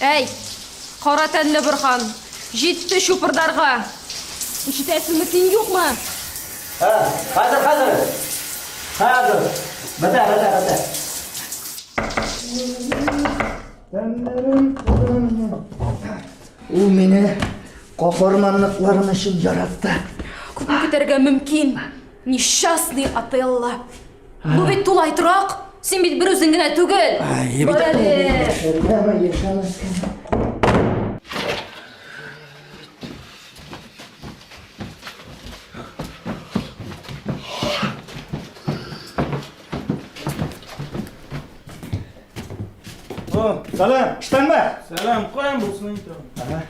Әй, кара тәнле Борхан, җитте чупырдарга! Ишетәсеңме, син юкмы? Ә, хәзер, хәзер! Хәзер! Бетә, бетә, бетә! Ул мине каһарманлыкларым өчен яратты. Күпме көтәргә мөмкин, несчастный Отелло! Бу бит тулай торак. Син бит бер үзең генә түгел. Бар әле. Салам, штан ба? Салам, қоям болсын инде. Ага.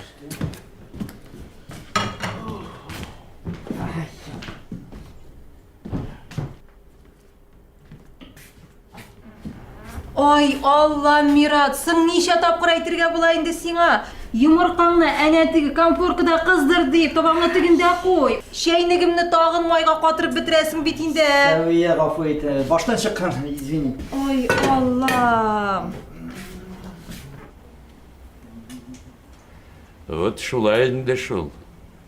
Ай, Алла, Мират, соң ничә тапкыр әйтергә була инде сиңа? Йомыркаңны әнә теге конфоркада кыздыр дип, табаңны тегендә куй. Чәйнегемне тагын майга катырып бетерәсең бит инде. Сәвия, гафу ит, э, баштан чыккан, извини. Ой, Аллам. Вот шулай инде шул.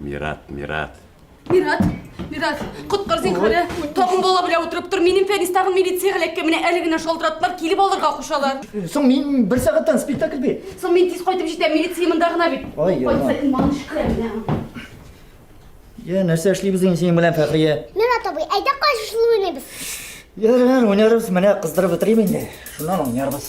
Мират, Мират. Мират, Мират, коткар зинхарә. Тагын бала белән утырып тор. Минем Фәнис тагын милиция һәләккә менә әле генә шалтыраттылар, килеп алырга кушалар. Соң мин бер сәгатьтән спектакль бит. Соң мин тиз кайтып җитәм, милиция монда гына бит. Ай, яна. Кайтса иман шикелләнә. Я, нәрсә эшлибез инде синең белән, Фәхрия? Мират абый, әйдә кайшышлы уйныйбыз. Ярар, уйнарбыз, менә кыздырып бетерим инде. Шуннан уйнарбыз.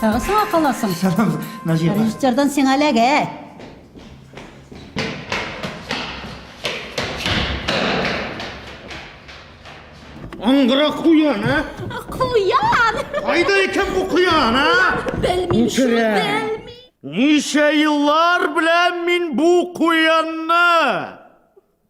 Тагы сиңа каласың. Сәлам, Наҗия. Режиссердан сиңа ләгә. Аңгыра куян, ә? Куян! Кайда икән бу куян, ә? Белмим, шул белми. Ничә еллар белән мин бу куянны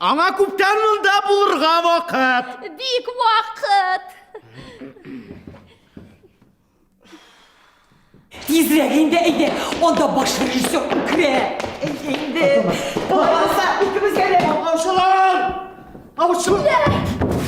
Аңа күптән монда булырга вакыт. Бик вакыт. Тизрәк инде әйдә, анда баш режиссер үкрә. Әйдә инде. Болай булса, икебезгә дә. Аучылар! Аучылар!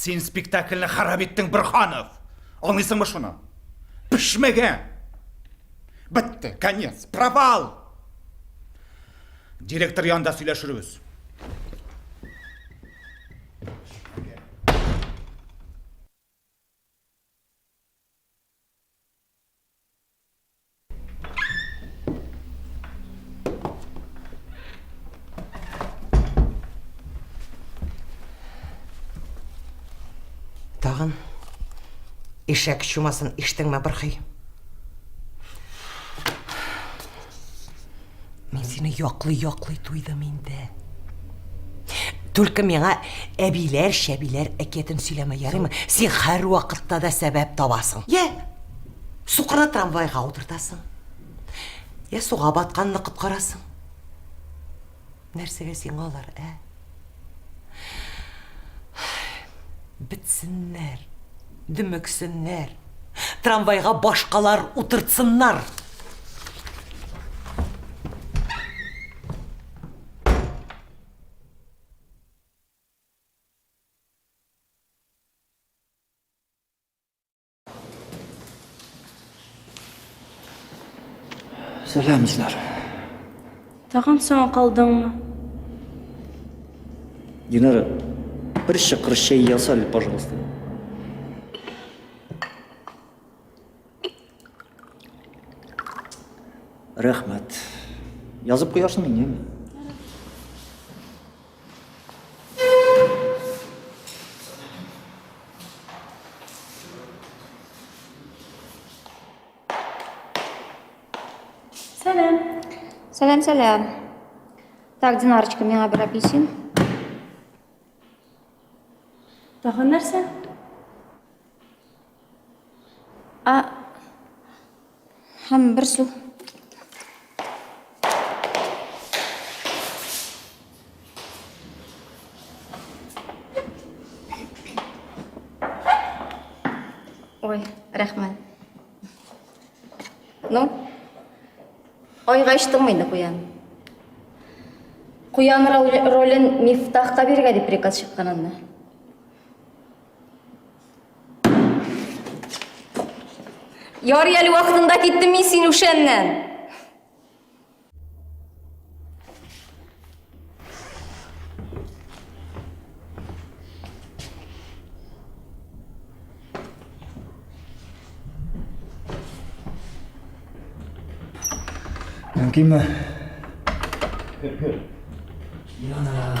Син спектакльне харап иттең, Бирханов! Аңлыйсыңмы шуны? Пешмәгән! Бетте, конец, провал! Директор янында сөйләшербез. Тагын ишәк чумасын иштеңме, Бырхый? Мин сине яклый-яклый туйдым инде. Түлке миңа әбиләр, шәбиләр әкиятен сөйләмә, ярыймы? Син һәр вакытта да сәбәп табасың. Йә, Сукырны трамвайга утыртасың. Я суга батканны коткарасың. Нәрсәгә сиңа алар, ә? Бетсеннәр, дөмексеннәр. Трамвайга башкалар утыртсыннар. Сәлам, Изнар. Тагын соң калдыңмы? Динара, бер шықыр шәй ясал, пожалуйста. Рәхмәт. Язып куярсың инде. Сәләм. Сәләм, сәләм. Так, Динарочка, миңа бер апельсин. Тагын нәрсә? А һәм бер су. Ой, рәхмәт. Ну, айга ичтең мыйды куян? Куян ролен мифтахка биргә дип приказ чыккан анда. Ярый әле вакытында киттем мин син үшәннән. Мөмкинме? Кер, кер. Янам.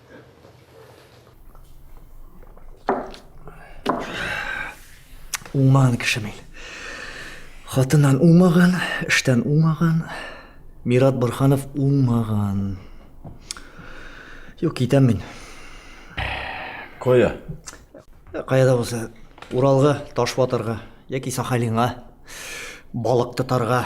Уңмаган кеше мин. Хатыннан уңмаган, эштән уңмаган. Мират Борханов уңмаган. Юк, китәм мин. Кая? Каяда булса, Уралга, Ташбатырга яки Сахалинга, балык тотарга.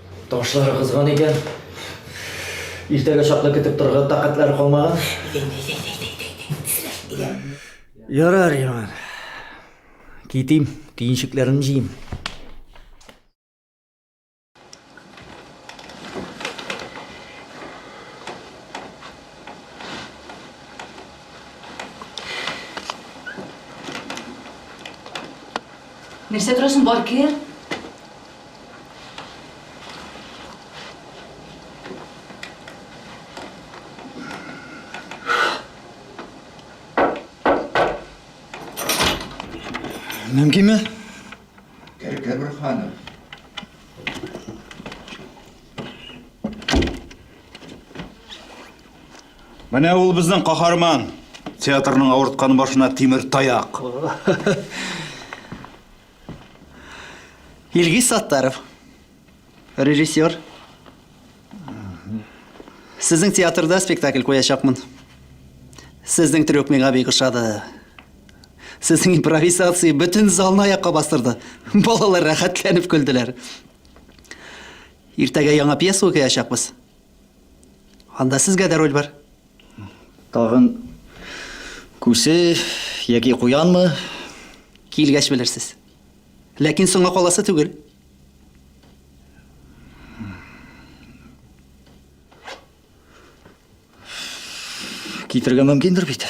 Ташлары кызган икән. Иртәгә чаклы көтеп торырга тәкатьләр калмаган. Ярар, Иман. Китим, киенчекләрен җыйм. Нәрсә торасың, бар кер. Мөмкинме? Кәркә бер ханым. Менә ул безнең каһарман. Театрның авырткан башына тимер таяк. Илгиз Саттаров, режиссер. Сезнең театрда спектакль куячакмын. Сезнең трюк миңа бик ошады. Сезнең импровизация бөтен залны аякка бастырды. Балалар рәхәтләнеп көлделәр. Иртәгә яңа пьеса укыячакбыз. Анда сезгә дә роль бар. Тагын күсе яки куянмы? Килгәч белерсез. Ләкин соңа каласы түгел. Китергә мөмкиндер бит.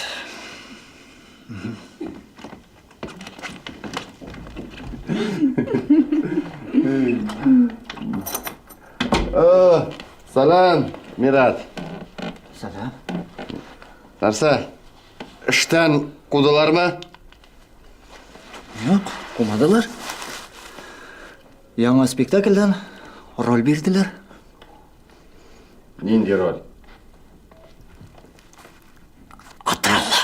Э, салам, Мират. Салам. Нәрсә? Эштән кудылармы? Юк, кумадылар. Яңа спектакльдән роль бирделәр. Нинди роль? Атыралла.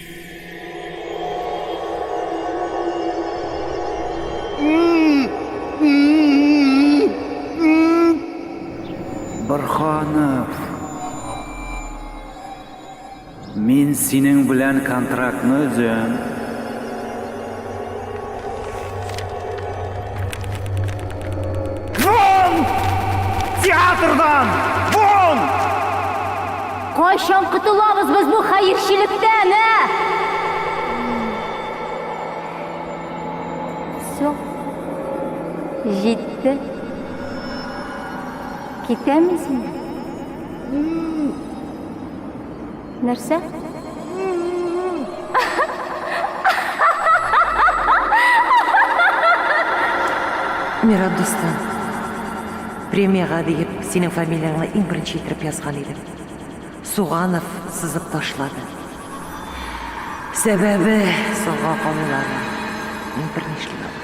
Борханов. Мин синең белән контрактны өзәм. Вон! Театрдан! Вон! Кайчан котылабыз без бу хәерчелектән, ә? Все. Җитте. Китәмизме? Нәрсә? Мират дустым, премияга диеп синең фамилияңны иң беренче итеп язган идем. Суганов сызып ташлады. Сәбәбе соңга калулар. Мин бер нишли алмыйм.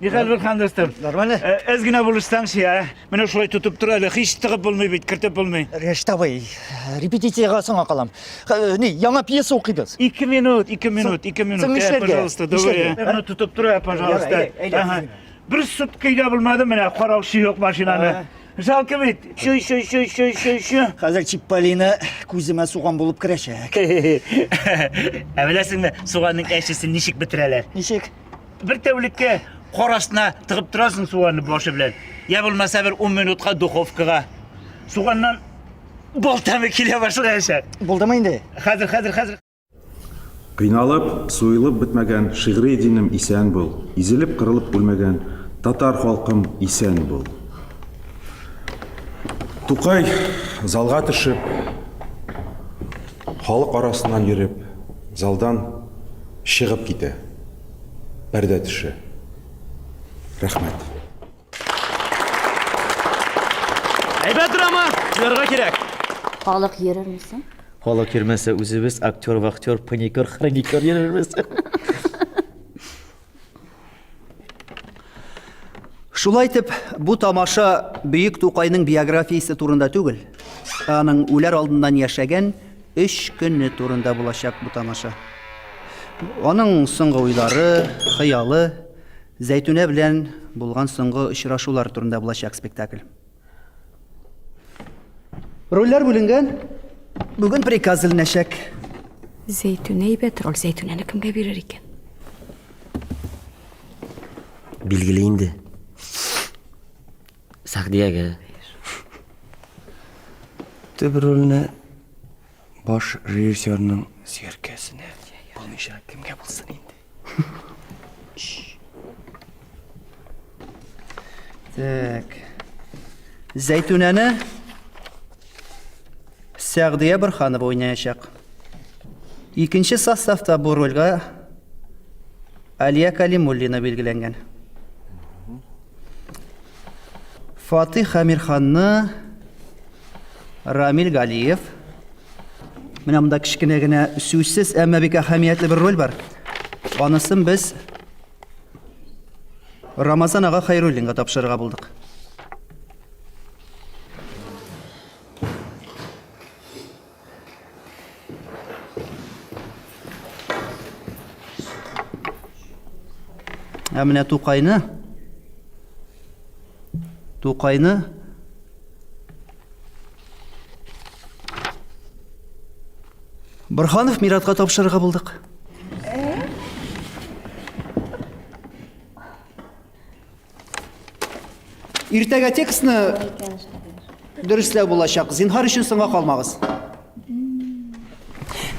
Михаил Вилхандовстым. Нормально? Әз генә булышсаң шия. Менә шулай тотып тор әле. Һич тыгып булмый бит, кертеп булмый. Рештабый, репетициягә соңга калам. Ни, яңа пьеса укыйбыз. Ике минут, ике минут, ике минут. Соң эшләргә. Пожалуйста, давай. Менә тотып тор, пожалуйста. Бер сут көйдә булмады менә, караучы юк машинаны. Жалко бит. Шуй, шуй, шуй, шуй, шуй, шуй. Хәзер Чипполина күземә суган булып керәчәк. Ә беләсеңме, суганның әчесен ничек бетерәләр? Ничек? Бер тәүлеккә кар астына тыгып торасың суганны башы белән. Я булмаса бер 10 минутка духовкага. Суганнан бал тәме килә башлаячак. Булдымы инде? Хәзер, хәзер, хәзер. Кыйналып, суелып бетмәгән шигъри динем исән бул. Изелеп, кырылып үлмәгән татар халкым исән бул. Тукай залга төшеп, халык арасыннан йөреп, залдан Чыгып китә. Пәрдә төшә. Рәхмәт. Әйбәт драма, куярга кирәк. Халык йөрерме соң? Халык йөрмәсә, үзебез актер, вахтер, паникер, хроникер йөрербез. Шулай итеп, бу тамаша Бөек Тукайның биографиясе турында түгел, аның үләр алдыннан яшәгән өч көне турында булачак бу тамаша. Аның соңгы уйлары, хыялы, Зәйтүнә белән булган соңгы очрашулар турында булачак спектакль. Рольләр бүленгән. Бүген приказ эленәчәк. Зәйтүнә әйбәт роль. Зәйтүнәне кемгә бирер икән? Билгеле инде. Сәгъдиягә. Төп рольне Баш режиссерның сияркәсенә булмыйча кемгә булсын инде. Так. Зәйтүнәне Сәгъдия Бырханова уйнаячак. Икенче составта бу рольгә Алия Калимуллина билгеләнгән. Фатих Амирханны Рамил Галиев. Менә монда кечкенә генә сүзсез, әмма бик әһәмиятле бер роль бар. Анысын без Рамазан ага Хайруллинга тапшырырга булдык. Ә менә Тукайны Тукайны Борханов Миратка тапшырырга булдык. Иртәгә текстны дөресләү булачак. Зинһар өчен соңга калмагыз.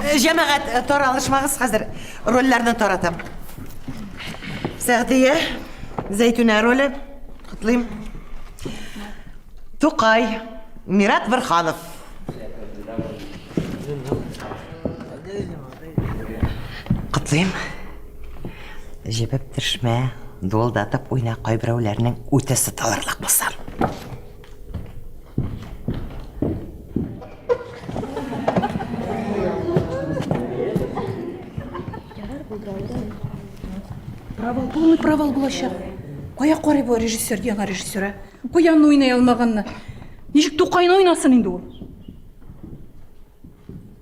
Э, Җәмәгать, э, таралышмагыз хәзер. Рольләрне таратам. Сәгъдия, Зәйтүнә роле. Котлыйм. Тукай, Мират Бырханов. Котлыйм. Җебеп төшмә, дуылдатып уйна кайберәүләрнең үте сыталырлык булса. Провал, полный провал булачак. Кая карый бу режиссер дигән режиссер, а? Куянны уйный алмаганны. Ничек Тукайны уйнасын инде ул?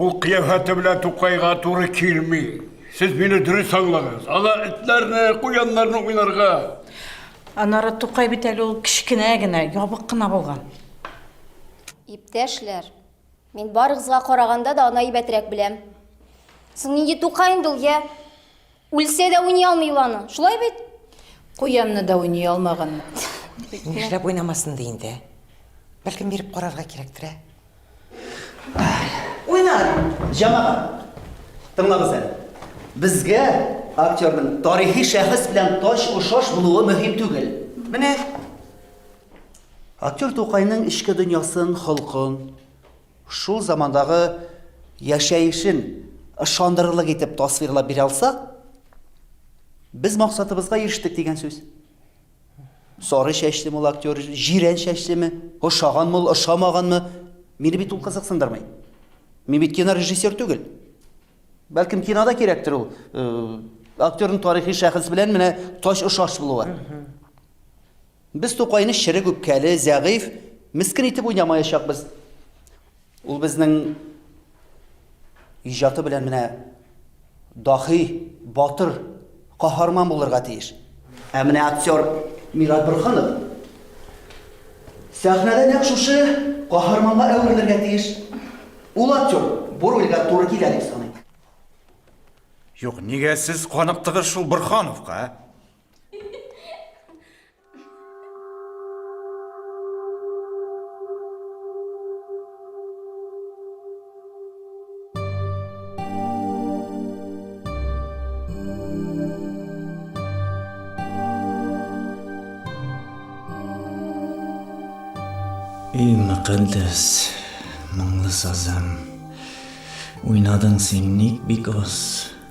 Ул кыяфәте белән Тукайга туры килми. Сез мине дөрес аңлагыз. Ала этләрне, куяннарны уйнарга. Анара Тукай бит әле ул кечкенә генә, ябык кына булган. Иптәшләр, мин барыгызга караганда да аны әйбәтрәк беләм. Соң нинди Тукай инде ул, я? Үлсә дә уйный алмый ул аны. Шулай бит? Куянны да уйный алмаган. Нишләп уйнамасын ди инде? Бәлкем биреп карарга кирәктер, ә? Уйнар! Җамагат, тыңлагыз әле. Безгә актерның тарихи шәхес белән тач-ошаш булуы мөһим түгел. Менә Актер Тукайның эчке дөньясын, холкын, Шул замандагы яшәешен ышандырырлык итеп тасвирлап бирә алсак, без максатыбызга ирештек дигән сүз. Сары чәчле мул актер, җирән чәчлеме, ошаган мул, ошамаганмы, мине бит ул кызыксындырмый. Мин бит кинорежиссер түгел. Бәлкем кинода кирәктер ул э, актерның тарихи шәхес белән менә тач ошаш булуы. Без Тукайны черек үпкәле, зәгыйфь, мескен итеп уйнамаячакбыз. Ул безнең иҗаты белән менә дахи, батыр, каһарман булырга тиеш. Ә менә актер Мират Борһанов сәхнәдә нәкъ шушы каһарманга әверелергә тиеш. Ул актер бу рольгә туры килә дип саныйм. Юк, нигә сез каныктыгыз шул Борһановка? Эй, мәкәндәс, моңлы сазым, уйнадың син ник бик аз?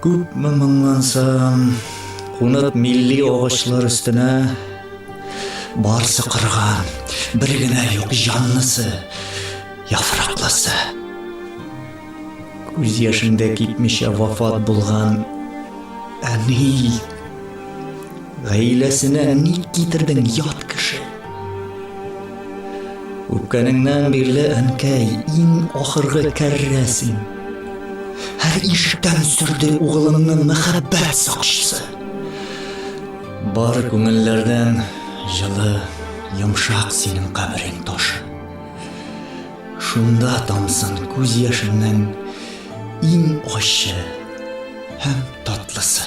Күпме моңлансам, кунып милли агачлар өстенә, барсы кырган, бер генә юк җанлысы, яфраклысы. Күз яшендә китмичә вафат булган әни гаиләсенә ник китердең ят кеше? Үпкәнеңнән бирле, әнкәй, иң ахыргы кәррә син. Һәр ишектән сөрде угылымны мәхәббәт сакчысы. Бар күңелләрдән җылы, йомшак синең каберең ташы. Шунда тамсын күз яшеннән иң ачы һәм татлысы.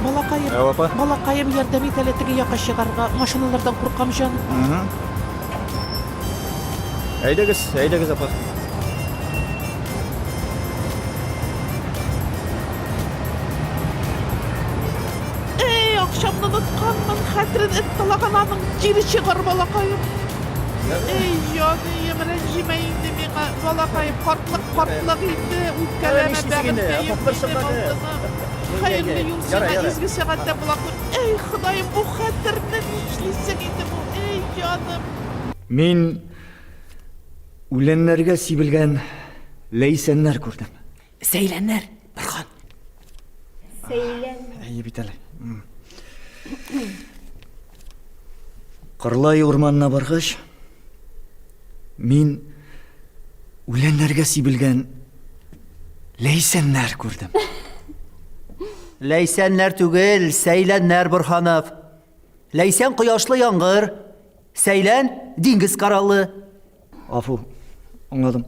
Балакаем. Ә, апа? Балакаем, ярдәм ит әле теге якка чыгарга. Машиналардан куркам, җан. Әйдәгез, әйдәгез, апа. Эй, акчамны онытканмын, хәтерен эт талаган аның. Кире чыгар, балакаем. Эй, җаныем, рәнҗемә инде миңа, балакаем. Картлык, картлык инде, үпкәләмә, Нишлисең инде, бәгырькәем апа, бер минем сырпа алды. Хәерле юл сиңа, изге сәгатьтә булакын. Әй, Ходаем, бу хәтерне нишлисең инде бу, әй, җаным. Мин үләннәргә сибелгән ләйсәннәр күрдем. Сәйләннәр, Бархан. Сәйлән. Әйе бит әле. Кырлай урманына баргач, Мин үләннәргә сибелгән ләйсәннәр күрдем. Ләйсәннәр түгел, сәйләннәр, Борханов. Ләйсән кояшлы яңгыр, сәйлән диңгез кораллы. Афу, аңладым.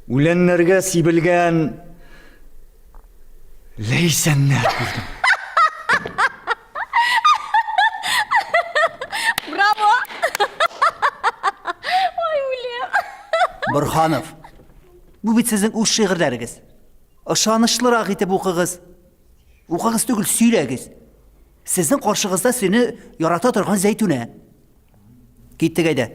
Үләннәргә сибелгән ләйсәннәр күрдем. Браво! Ой, үлем! Борханов, бу бит сезнең үз шигырьләрегез. Ышанычлырак итеп укыгыз. Укыгыз түгел, сөйләгез. Сезнең каршыгызда сине ярата торган Зәйтүнә. Киттек әйдә.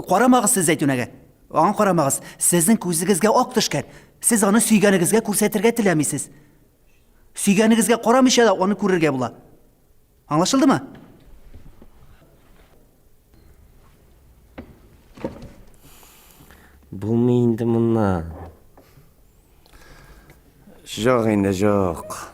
Карамагыз сез Зәйтүнәгә. Аңа карамагыз, сезнең күзегезгә ак төшкән. Сез аны сөйгәнегезгә күрсәтергә теләмисез. Сөйгәнегезгә карамыйча да аны күрергә була. Аңлашылдымы? Булмый инде моннан. Жок инде, жок.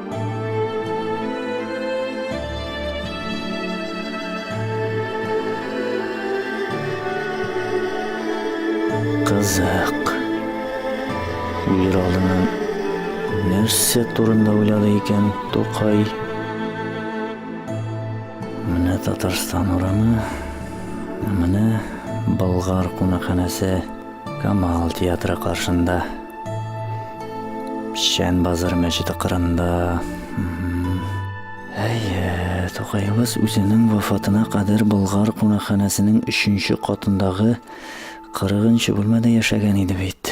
Кызык. Үлер алдыннан нәрсә турында уйлады икән Тукай? Менә Татарстан урамы, менә Болгар кунакханәсе. Камал театры каршында. Печән базар мәчете кырында. Әйе, Тукайыбыз үзенең вафатына кадәр Болгар кунакханәсенең өченче катындагы 40 бүлмәдә яшәгән иде бит.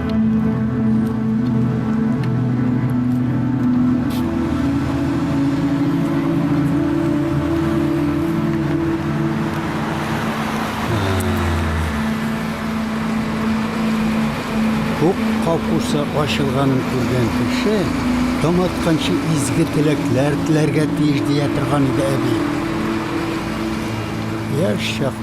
капусы ачылганын күргән кеше таң атканчы изге теләкләр теләргә тиеш дия торган иде әби. Яшь чак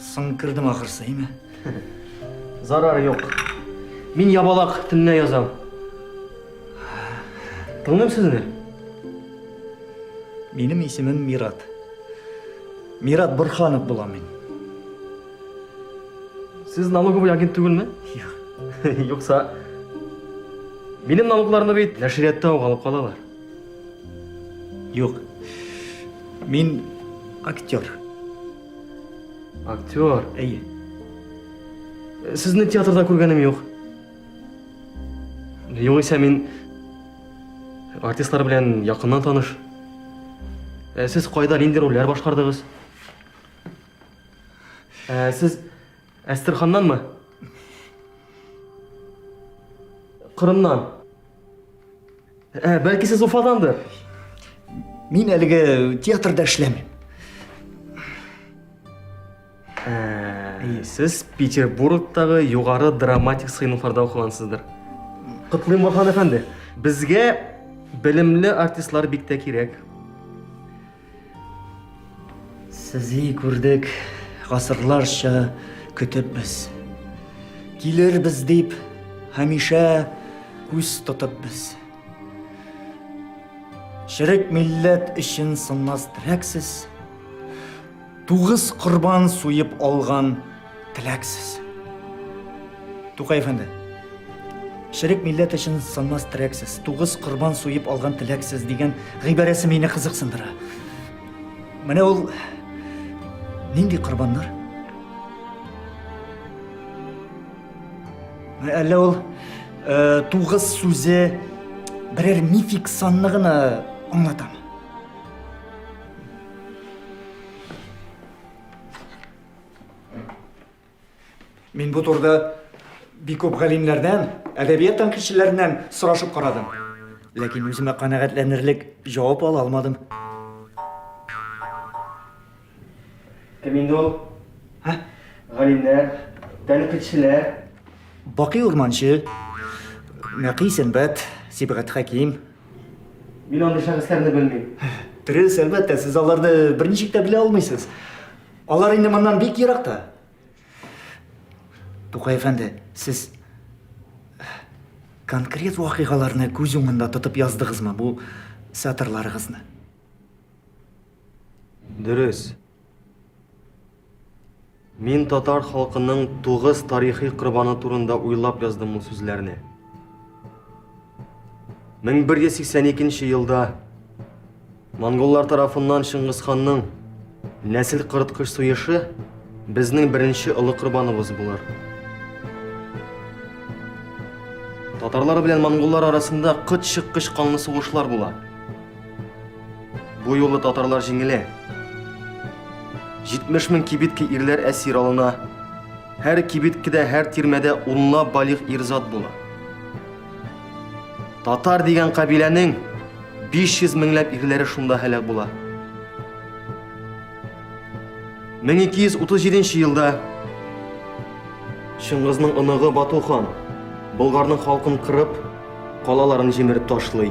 Соң кердем ахырсы, әйме? Зарар юк. Мин ябалак төнлә язам. Тыңлыйм сезне. Минем исемем Мират. Мират Бурханов була мин. Сез налоговый агент түгелме? Юк. Юкса, минем налогларны бит нәшриятта ук алып калалар. Юк. Мин актер. Актер? Әйе. Сезне театрда күргәнем юк. Югыйсә мин артистлар белән якыннан таныш. Ә сез кайда нинди рольләр башкардыгыз? Ә сез Әстерханнанмы? Кырымнан. Ә, бәлки сез Уфадандыр? Мин әлеге театрда эшләмим. Ә, сез Петербургтагы югары драматик сыйныфларда укыгансыздыр. Котлыйм Вахан әфәнде. Безгә белемле артистлар бик тә кирәк. Сезли күрдек, гасырларча көтеп без. Килер без дип, һәмишә күз тотып без. Шерек милләт өчен сынмас трәксез. Тугыз корбан суеп алган теләксез. Тукай әфәнде, Шерек милләт өчен сынмас терәксез, тугыз корбан суеп алган теләксез дигән гыйбарәсе мине кызыксындыра. Менә ул нинди корбаннар? Әллә ул э, тугыз сүзе берәр мифик санны гына аңлатамы? Мин бу турда бик күп галимнәрдән, әдәбият тәнкыйтьчеләреннән сорашып карадым. Ләкин үземә канәгатьләнерлек җавап ала алмадым. Кем инде ул? Һә? Галимнәр, тәнкыйтьчеләр. Бакый Урманчы, Нәкый Сәнбәт, Сибгат Хәким, Мин андый шәхесләрне белмим. Дөрес, әлбәттә, сез аларны берничек тә белә алмыйсыз. Алар инде моннан бик еракта. Тукай әфәнде, сез конкрет вакыйгаларны күз уңында тотып яздыгызмы бу сатырларыгызны? Дөрес. Мин татар халкының тугыз тарихи корбаны турында уйлап яздым бу сүзләрне. 1182 елда монголлар тарафыннан Шыңгысханның нәсел кырыткыч суешы безнең беренче олы корбаныбыз булыр. Татарлар белән монголлар арасында кыт чыккыч канлы сугышлар була. Бу юлы татарлар җиңелә. 70 мең кибитке ирләр әсир алына. Һәр кибиткедә, һәр тирмәдә унла балигъ ирзат була. Татар дигән кабиләнең 500 меңләп ирләре шунда һәлак була. 1237 елда Чыңгызның оныгы Бату хан Болгарның халкын кырып, калаларын җимереп ташлый.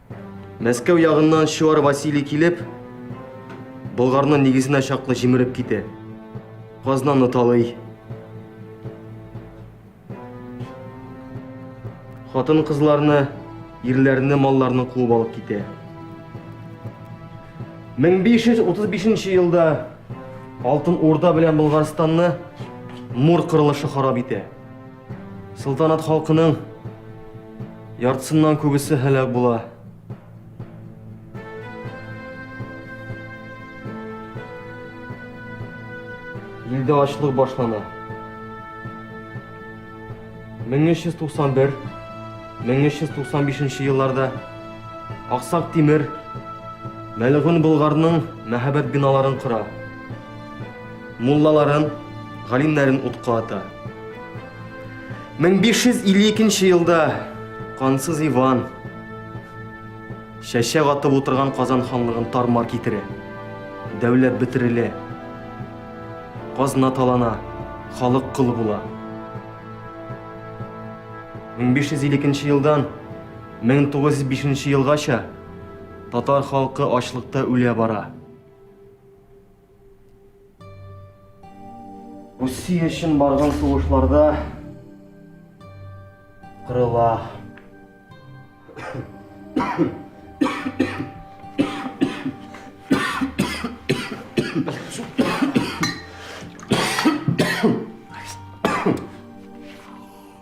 Мәскәү ягыннан Чуар Василий килеп, Болгарны нигезенә чаклы җимереп китә. Казнаны талый. Хатын кызларны, ирләрне, малларны куып алып китә. 1535 елда Алтын Урда белән Болгарстанны Мур кырылышы харап итә. Сылтанат халкының яртысыннан күбесе һәлак була. Илдә ачлык башлана. 1391 1395 елларда Аксак Тимер Мәлгун Болгарның мәһәбәт биналарын кора. Муллаларын, галимнәрен утка ата. 1552 елда кансыз Иван шәшә атып утырган Казан ханлыгын тармар китерә. Дәүләт бетерелә. Казна талана, халык кыл була. 1552 елдан 1905 елгача татар халкы ачлыкта үлә бара. Россия өчен барган сугышларда кырыла.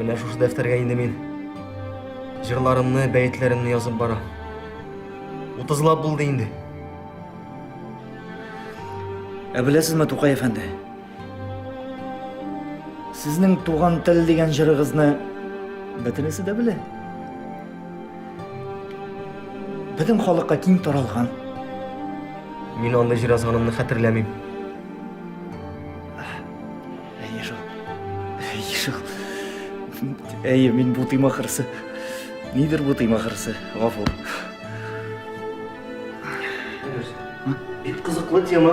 Менә шушы дәфтәргә инде мин җырларымны, бәетләремне язып бара. Утызлап булды инде. Ә беләсезме, Тукай әфәнде, Сезнең туган тел дигән җырыгызны бөтенесе дә белә. Бөтен халыкка киң таралган. Мин аны җыр язганымны хәтерләмим. Әйе шул. Әйе шул. Әйе, мин бутыйм ахырсы. Нидер бутыйм ахырсы. Гафу. Бит кызыклы тема.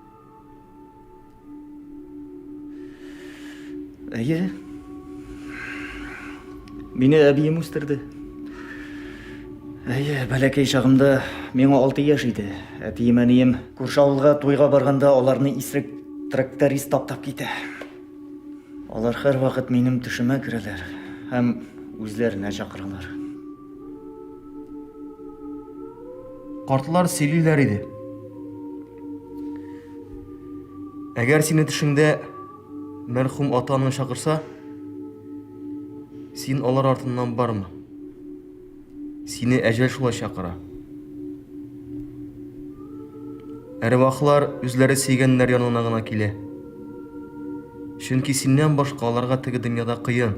Әйе. Мине әбием үстерде. Әйе, бәләкәй чагымда миңа 6 яшь иде. Әтием әнием күрше авылга туйга барганда аларны исрек тракторист таптап китә. Алар һәрвакыт минем төшемә керәләр һәм үзләренә чакыралар. Картлар сөйлиләр иде. Әгәр сине төшеңдә мәрхүм атаңны чакырса, син алар артыннан барма. Сине әҗәл шулай чакыра. Әрвахлар үзләре сөйгәннәр янына гына килә. Чөнки синнән башка аларга теге дөньяда кыен.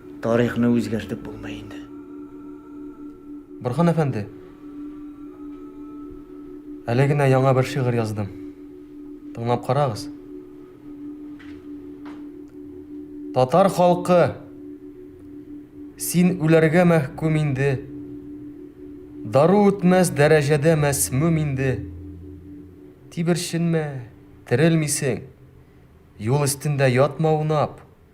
Тарихны үзгәртеп булмый инде. Борхан әфәнде, әле генә яңа бер шигырь яздым. Тыңлап карагыз. Татар халкы, син үләргә мәхкүм инде. Дару үтмәс дәрәҗәдә мәсмүм инде. Тиберченмә, терелмисең. Юл өстендә ятма унап.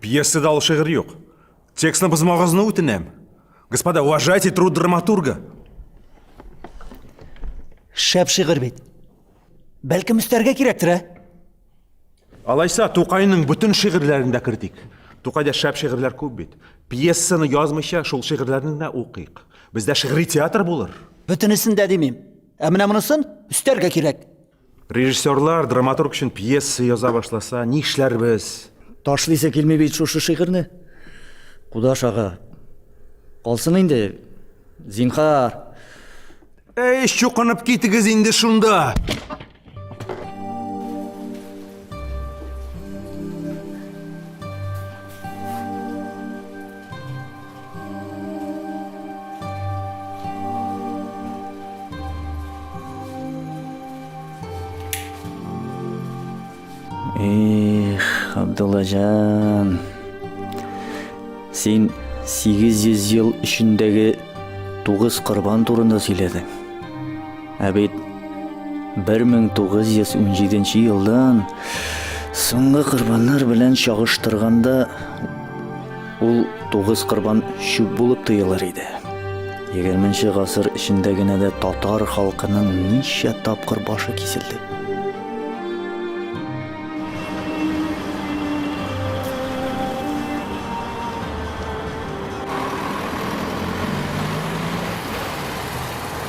Пьесада ул шигырь юк. Текстны бозмагызны үтенәм. Господа, уважайте труд драматурга. Шәп шигырь бит. Бәлкем өстәргә кирәктер, ә? Алайса, Тукайның бөтен шигырьләрен дә кертик. Тукайда шәп шигырьләр күп бит. Пьесаны язмыйча, шул шигырьләрне генә укыйк. Бездә шигъри театр булыр. Бөтенесен дә димим. Ә менә монысын өстәргә кирәк. Режиссерлар, драматург өчен пьеса яза башласа, нишләрбез? Ташлыйсы килми бит шушы шигырьне. Кудаш ага. Калсын инде. Зинхар. Әй, чукынып китегез инде шунда. Эх, Абдуллажан. Син 800 ел эчендәге тугыз корбан турында сөйләдең. Ә бит 1917 елдан соңгы корбаннар белән чагыштырганда ул тугыз корбан чүп булып тоелыр иде. 20 гасыр эчендә генә дә татар халкының ничә тапкыр башы киселде.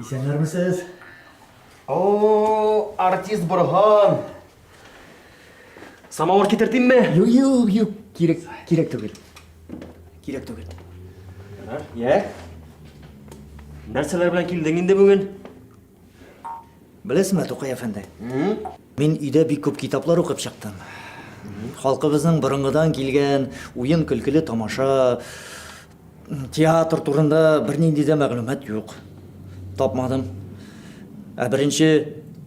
Исәннәрмесез? О, артист Борган! Самавыр китертимме? Юк, юк, юк. Кирәк, кирәк түгел. Кирәк түгел. Йә. Нәрсәләр белән килдең инде бүген? Беләсеңме, Тукай әфәнде? Мин өйдә бик күп китаплар укып чыктым. Халкыбызның борынгыдан килгән уен-көлкеле тамаша, Театр турында бернинди дә мәгълүмат юк. Тапмадым. Ә беренче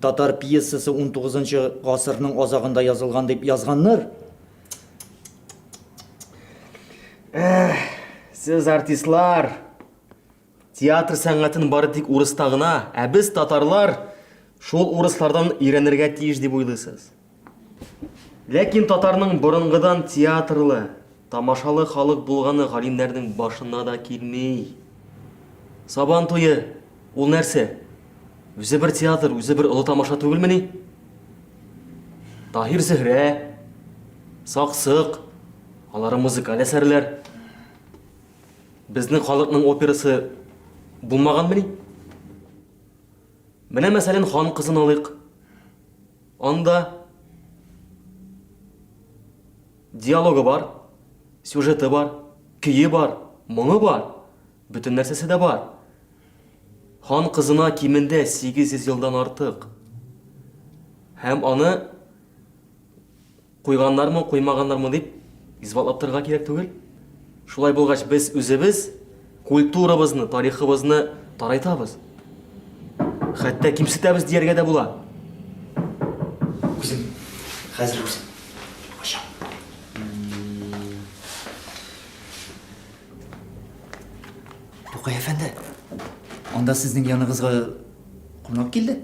татар пьесасы 19-нчы гасырның азагында язылган дип язганнар. Эх, сез артистлар. Театр сәнгатен бары тик урыста гына, ә без татарлар шул урыслардан өйрәнергә тиеш дип уйлыйсыз. Ләкин татарның борынгыдан театрлы, тамашалы халык булганы галимнәрнең башына да килми. Сабан туе, ул нәрсә? Үзе бер театр, үзе бер олы тамаша түгелмени? Таһир Зөһрә, Саксык, алары музыкаль әсәрләр. Безнең халыкның операсы булмаганмени? Менә мәсәлән, Хан кызын алыйк. Анда диалогы бар, сюжеты бар, көе бар, моңы бар, бөтен нәрсәсе дә бар. Хан кызына кимендә 800 елдан артык һәм аны Куйганнармы, куймаганнармы дип исбатлап торырга кирәк түгел. Шулай булгач, без үзебез культурабызны, тарихыбызны тарайтабыз. Хәтта кимсетәбез дияргә дә була. Үзем, хәзер үзем. Ачам. Тукай әфәнде, анда сезнең яныгызга кунак килде.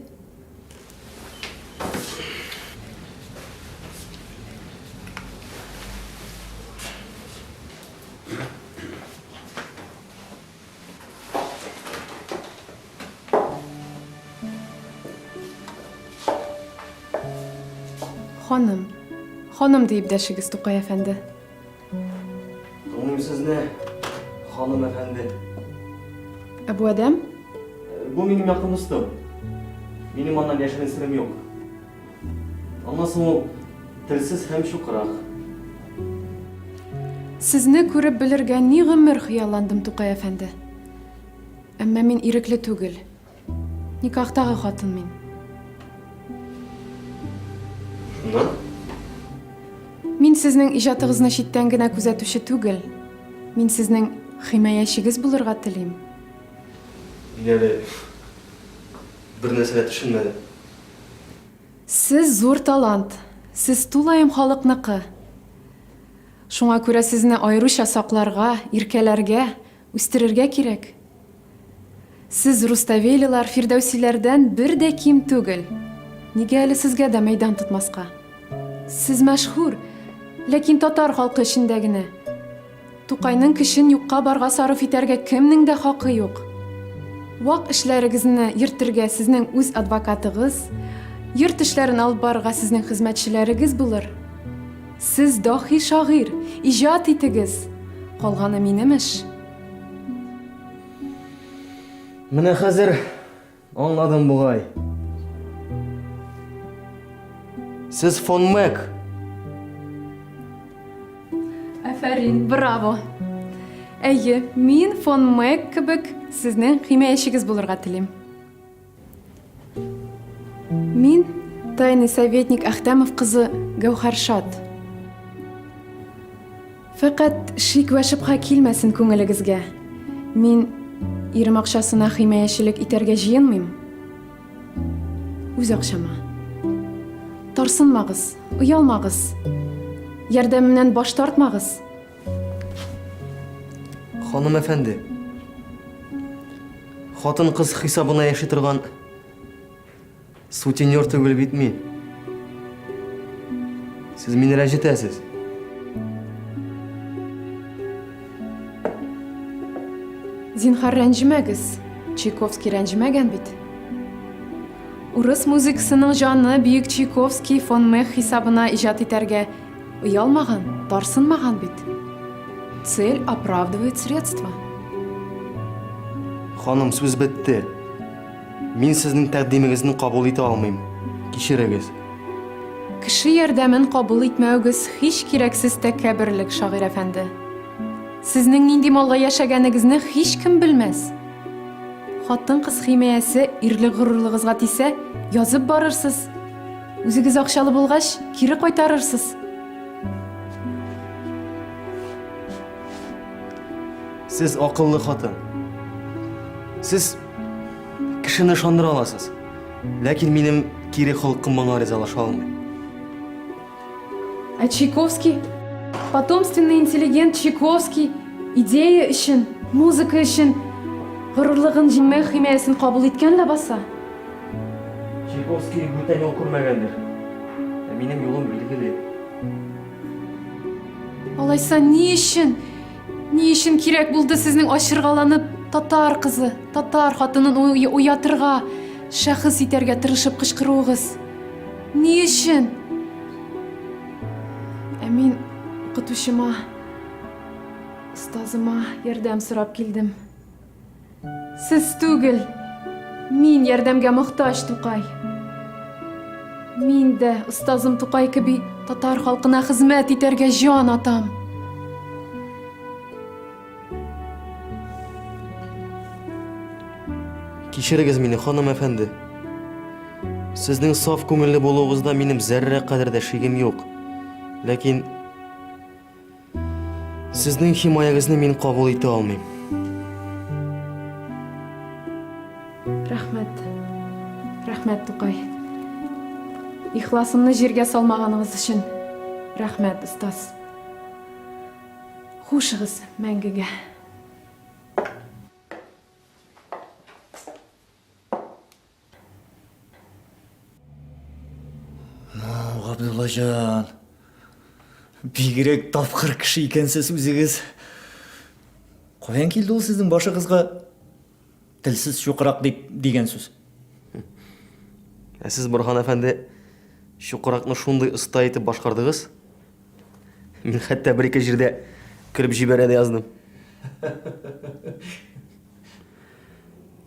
Ханым, ханым, диеп дәшегез, Тукай әфәнде. Тыңлыйм сезне, ханым әфәнде. Ә бу адәм? Бу минем якын дустым. Минем аннан яшерен сирем юк. Аннан соң ул телсез һәм чукырак. Сезне күреп белергә ни гомер хыялландым, Тукай әфәнде. Әмма мин ирекле түгел. Никахтагы хатын мин. Шуннан? Мин сезнең иҗатыгызны читтән генә күзәтүче түгел. Мин сезнең химаячегез булырга телим. Мин әле бер нәрсәгә төшенмәдем. Сез зур талант. Сез тулаем халыкныкы. Шуңа күрә сезне аеруча сакларга, иркәләргә, үстерергә кирәк. Сез руставелилар, фирдәүсиләрдән бер дә ким түгел. Нигә әле сезгә дә мәйдан тотмаска? Сез мәшһүр, ләкин татар халкы эчендә генә. Тукайның көчен юкка-барга сарыф итәргә кемнең дә хакы юк. Вак эшләрегезне йөртергә сезнең үз адвокатыгыз, йорт эшләрен алып барырга сезнең хезмәтчеләрегез булыр. Сез даһи шагыйрь, иҗат итегез! Калганы минем эш. Менә хәзер аңладым бугай. Сез фон Мэг. Афәрин, браво. Әйе, мин фон Мэг кебек сезнең химиячегез булырга телим. Мин тайный советник Әхтәмов кызы Гәүхәршат. Фәкать шик вә шөбһә килмәсен күңелегезгә. Мин ирем акчасына химаячелек итәргә җыенмыйм. Үз акчама. Тарсынмагыз, оялмагыз. Ярдәмемнән баш тартмагыз. Ханым әфәнде, хатын кыз хисабына яши торган сутенер түгел бит мин. Сез мине рәнҗетәсез. Зинхар рәнҗемәгез. Чайковский рәнҗемәгән бит. Урыс музыкасының җаны бөек Чайковский, фон Мех хисабына иҗат итәргә Оялмаган, тарсынмаган бит. Цель оправдывает средства. Ханым, сүз бетте. Мин сезнең тәкъдимегезне кабул итә алмыйм. Кичерегез. Кеше ярдәмен кабул итмәүегез һич кирәксез тәкәбберлек, шагыйрь әфәнде. Сезнең нинди малга яшәгәнегезне һич кем белмәс. Хатын-кыз химиясе ирлек-горурлыгызга тисә, язып барырсыз. Үзегез акчалы булгач, кире кайтарырсыз. Сез акыллы хатын. Сез кешене ышандыра аласыз. Ләкин минем кире холкым моңа ризалаша алмый. Ә Чайковский, потомственный интеллигент Чайковский идея өчен, музыка өчен горурлыгын җиңмәү химиясен кабул иткән ләбаса. Чайковский бүтән юл күрмәгәндер. Ә минем юлым билгеле. Алайса ни өчен? Ни өчен кирәк булды сезнең ачыргаланып татар кызы, татар хатынын уятырга, шәхес итәргә тырышып кычкыруыгыз? Ни өчен? Ә мин укытучыма, остазыма ярдәм сорап килдем. Сез түгел, мин ярдәмгә мохтаҗ, Тукай. Мин дә, остазым Тукай кеби, татар халкына хезмәт итәргә җан атам. Кичерегез мине, ханым әфәнде. Сезнең саф күңелле булуыгызда минем зәррә кадәр дә шигем юк. Ләкин Сезнең химаягезне мин кабул итә алмыйм. Рәхмәт. Рәхмәт, Тукай. Ихласымны җиргә салмаганыгыз өчен рәхмәт, остаз. Хушыгыз мәңгегә. Ну, Габдуллаҗан. Бигрәк тапкыр кеше икәнсез үзегез. Каян килде ул сезнең башыгызга телсез чукрак дип дигән сүз? Ә сез, Борхан әфәнде, чукракны шундый оста итеп башкардыгыз. Мин хәтта бер-ике җирдә көлеп җибәрә дә яздым.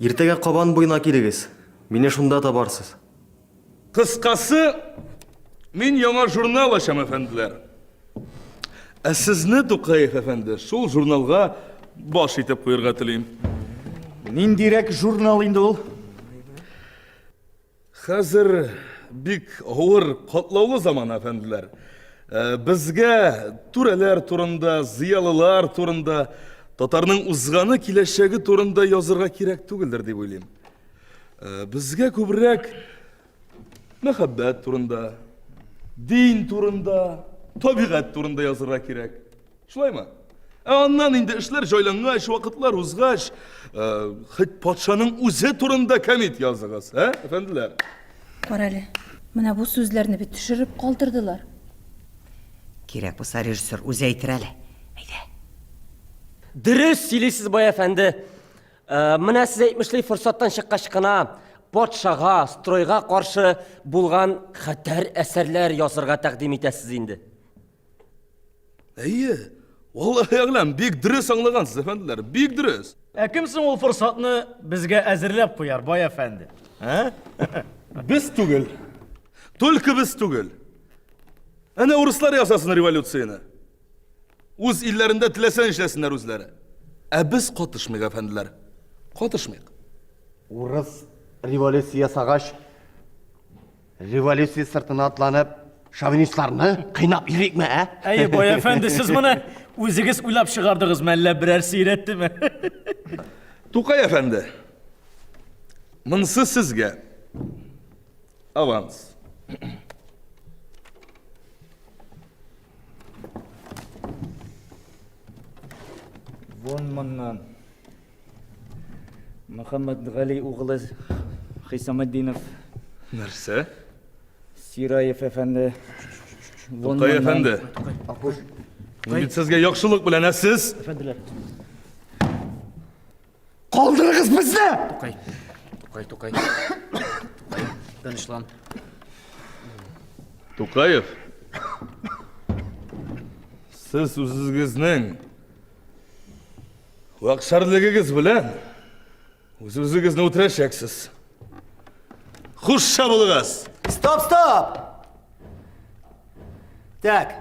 Иртәгә Кабан буена килегез. Мине шунда табарсыз. Кыскасы, мин яңа журнал ачам, әфәнделәр. Ә сезне, Тукаев әфәнде, шул журналга баш итеп куерга телим. Ниндирәк журнал инде ул? Хәзер бик авыр, катлаулы заман, әфәнделәр. Э, безгә түрәләр турында, зыялылар турында, татарның узганы, киләчәге турында язырга кирәк түгелдер дип уйлыйм. Э, безгә күбрәк мәхәббәт турында, дин турында, табигать турында язырга кирәк. Шулаймы? Ә аннан инде эшләр җайлангач, вакытлар узгач, э, хит патшаның үзе турында комит языгыз, ә, әфәнделәр? Кара әле, менә бу сүзләрне бит төшереп калдырдылар. Кирәк булса, режиссер үзе әйтер әле. Әйдә. Дөрес сөйлисез, бай әфәнде. Э, менә сез әйтмешли форсаттан чыккач кына патшага, стройга каршы булган хәтәр әсәрләр язырга тәкъдим итәсез инде. Әйе, валлахи әгъләм, бик дөрес аңлагансыз, әфәнделәр, бик дөрес. Ә кем соң ул форсатны безгә әзерләп куяр, бай әфәнде? Ә? Без түгел. Только без түгел. Әнә урыслар ясасын революцияне. Үз илләрендә теләсә эшләсеннәр үзләре. Ә без катышмыйк, әфәнделәр. Катышмыйк. Урыс революция ясагач, Революция сыртына атланып, шовинистларны кыйнап йөрикме, ә? Әйе, бай әфәнде, сез моны үзегез уйлап чыгардыгызмы, әллә берәр сөйрәттеме? Тукай әфәнде, монсы сезгә аванс. Вон моннан. Мөхәммәтгали углы Хисаметдинов. Нәрсә? Сираев әфәнде. Тукай әфәнде. Акуш. Мин бит сезгә яхшылык белән, ә сез? Әфәнделәр. Калдырыгыз безне! Тукай. Тукай, Тукай. Тукай, тынычлан. Тукаев. Сез үзегезнең Вак шәрлегегез белән үзегезне үтерәчәксез. Хуш чабылыгыз! Стоп, стоп! Так,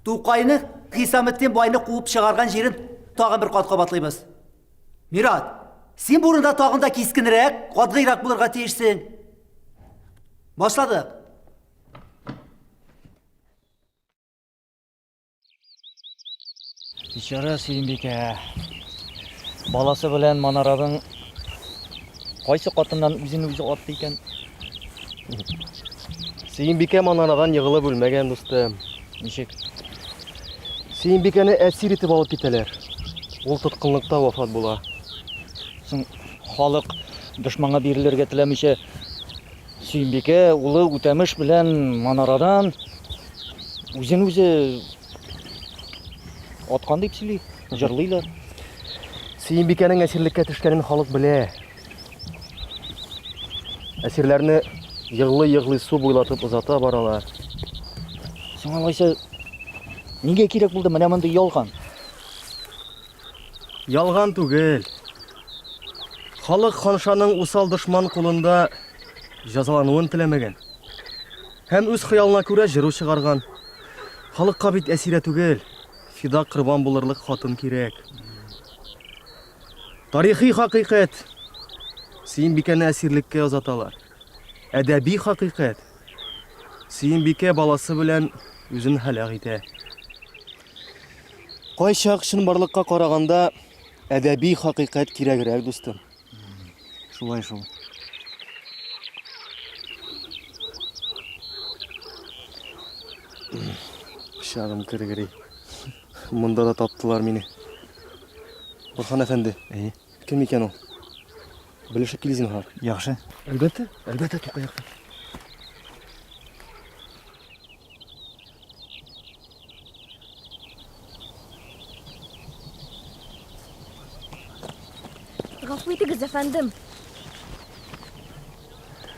Тукайны Хисаметдин байны куып чыгарган җирен тагын бер кат кабатлыйбыз. Мират, син бурында тагын да кискенрәк, катгыйрак булырга тиешсең. Башладык. Бичара Сөембикә. Баласы белән Манараның кайсы катыннан үзен үзе атты икән? Сөембикә Манарадан егылып үлмәгән дусты. Ничек? Сөембикәне әсир итеп алып китәләр. Ул тоткынлыкта вафат була. Соң халык дошманга бирелергә теләмичә Сөембикә улы Үтәмеш белән манарадан үзен-үзе аткан дип сөйли, җырлыйлар. Сөембикәнең әсирлеккә төшкәнен халык белә. Әсирләрне егылый-егылый су буйлатып озата баралар. Соң алайса, нигә кирәк булды менә мондый ялган? Ялган түгел. Халык ханшаның усал дошман кулында җәзалануын теләмәгән. Һәм үз хыялына күрә җыру чыгарган. Халыкка бит әсирә түгел, фида корбан булырлык хатын кирәк. Тарихи хакыйкать. Сөембикәне әсирлеккә озаталар. Әдәби хакыйкать. Сөембикә баласы белән үзен һәлак итә. Кайчак чынбарлыкка караганда әдәби хакыйкать кирәгрәк, дустым. Шулай шул. Пычагым кергери. Монда да таптылар мине. Борхан әфәнде. Әйе. Кем икән ул? Белешеп кил зинһар. Яхшы. Әлбәттә, әлбәттә, Тукаякта. Гафу итегез, әфәндем.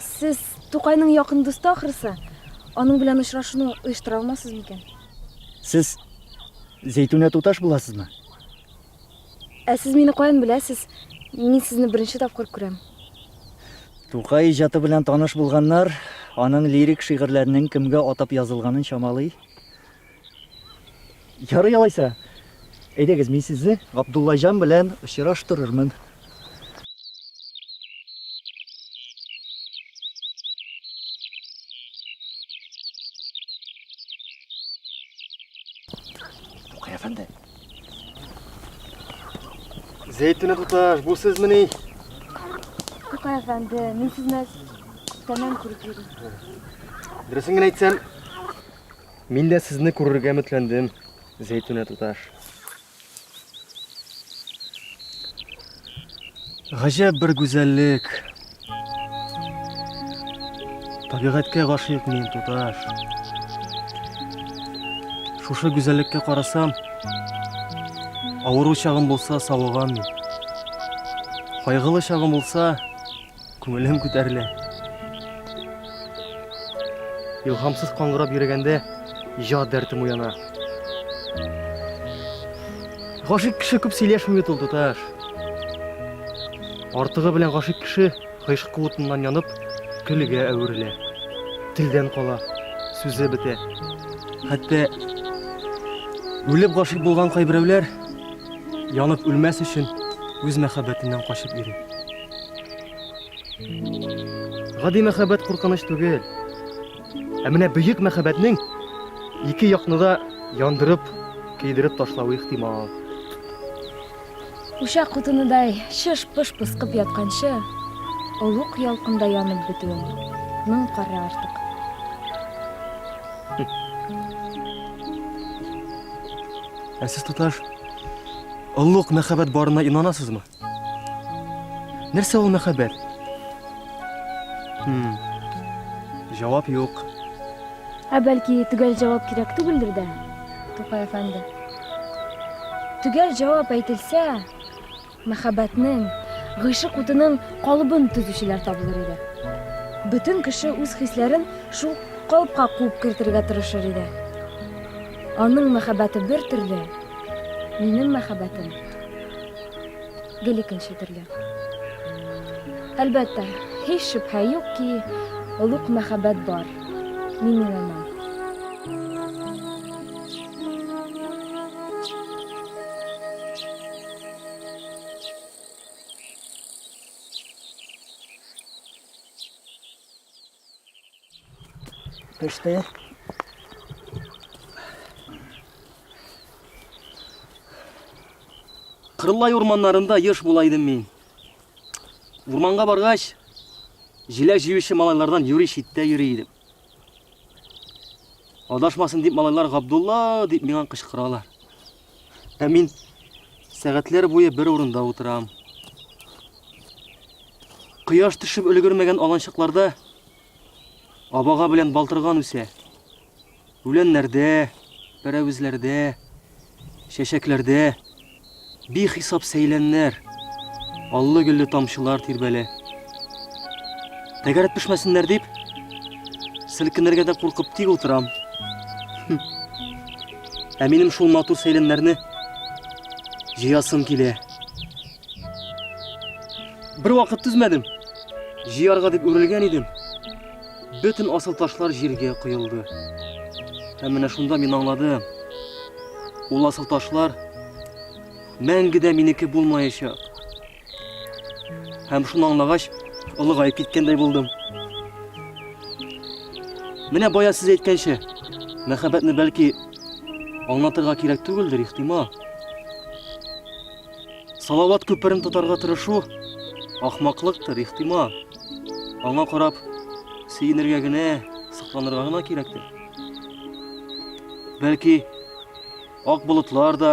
Сез Тукайның якын дусты ахрысы. Аның белән очрашуны оештыра алмассыз микән? Сез Зәйтүнә туташ буласызмы? Ә сез мине каян беләсез? Мин сезне беренче тапкыр күрәм. Тукай иҗаты белән таныш булганнар, аның лирик шигырьләренең кемгә атап язылганын чамалый. Ярый алайса. Әйдәгез, мин сезне Габдуллаҗан белән очраштырырмын. Тукай әфәнде, Зәйтүнә туташ, бу сезмени? Тукай әфәнде, мин сезне күптәннән күреп йөрим. Дөресен генә әйтсәм, мин дә сезне күрергә өметләндем, Зәйтүнә туташ. Гаҗәп бер гүзәллек. Табигатькә гашыйк мин, туташ. Шушы гүзәллеккә карасам, авыру чагым булса, савыгам мин. Кайгылы чагым булса, Күңелем күтәрелә. Илһамсыз каңгырап йөрегәндә җа дәртем уяна. Гашык кеше күп сөйләшми бит ул, туташ. Артыгы белән гашык кеше гыйшк куытыннан янып, көлгә әверелә. Телдән кала, сүзе бетә. Хәтта үлеп гашык булган кайберәүләр янып үлмәс өчен үз мәхәббәтеннән качып йөри. Гади мәхәббәт куркыныч түгел. Ә менә бөек мәхәббәтнең ике якны да яндырып, көйдереп ташлавы ихтимал. Учак кутыныдай шыш-пыш пыскып ятканчы, олуг ялкында янып бетүен моң кара артык. Ә сез туташ, олуг мәхәббәт барына инанасызмы? Нәрсә ул мәхәббәт? Хм. Җавап юк. Ә бәлки төгәл җавап кирәк түгелдер дә, Тукай әфәнде? Төгәл җавап әйтелсә, мәхәббәтнең, гыйшык утының калыбын төзүчеләр табылыр иде. Бөтен кеше үз хисләрен шул калыпка куып кертергә тырышыр иде. Аның мәхәббәте бер төрле, минем мәхәббәтем гел икенче төрле. Әлбәттә, һич шөбһә юк ки, олуг мәхәббәт бар. Мин уйланам. Пеште. Кырлай урманнарында еш була идем мин. Урманга баргач, җиләк җыючы малайлардан юри читтә йөри идем. Адашмасын дип малайлар Габдулла дип миңа кычкыралар. Ә мин сәгатьләр буе бер урында утырам. Кояш төшеп өлгермәгән аланчыкларда абага белән балтырган үсә. Үләннәрдә, пәрәвезләрдә, чәчәкләрдә бихисап сәйләннәр, аллы-гөлле тамчылар тирбәлә. Тәгәрәп төшмәсеннәр дип, селкенергә дә куркып тик утырам. Ә минем шул матур сәйләннәрне җыясым килә. Бер вакыт түзмәдем. Җыярга дип үрелгән идем. Бөтен асыл ташлар җиргә коелды. Һәм менә шунда мин аңладым. Ул асыл ташлар мәңге дә минеке булмаячак. Һәм шуны аңлагач, олыгаеп киткәндәй булдым. Менә бая сез әйткәнчә, мәхәббәтне бәлки аңлатырга кирәк түгелдер, ихтимал. Салават күперен тотарга тырышу ахмаклыктыр, ихтимал. Аңа карап сөенергә генә, сокланырга гына кирәктер. Бәлки ак болытлар да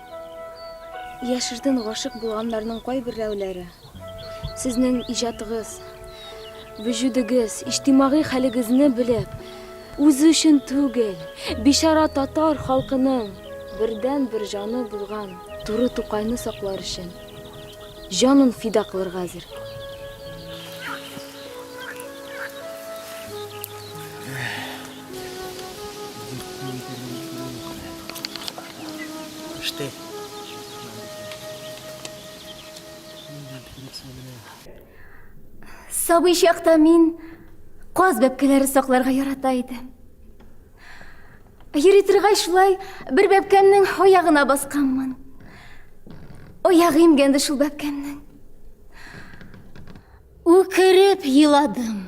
Яшертен гашык булганнарның кайберәүләре сезнең иҗатыгыз, вөҗүдегез, иҗтимагый хәлегезне белеп, үзе өчен түгел, бичара татар халкының бердәнбер җаны булган туры Тукайны саклар өчен җанын фида кылырга әзер. Сабый чакта мин каз бәпкәләре сакларга ярата идем. Йөри торгач шулай бер бәпкәннең аягына басканмын. Аягы имгәнде шул бәпкәннең. Үкереп еладым.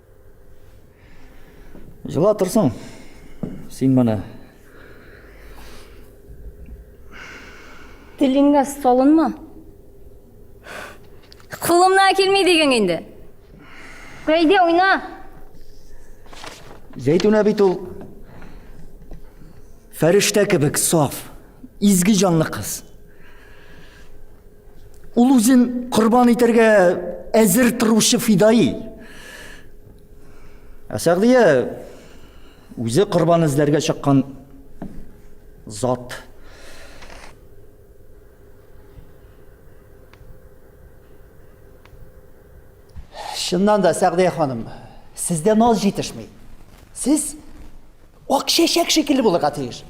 Жыла торсың. Син моны. Телеңгә салынма. Кулымна килми дигән инде. Әйдә уйна. Зәйтүнә бит ул фәрештә кебек саф, изге җанлы кыз. Ул үзен корбан итәргә әзер торучы фидаи. Ә Сәгъдия үзе корбан эзләргә чыккан зат. Чыннан да, Сәгъдия ханым, сездә наз җитешми. Сез ак чәчәк шикелле булырга тиеш.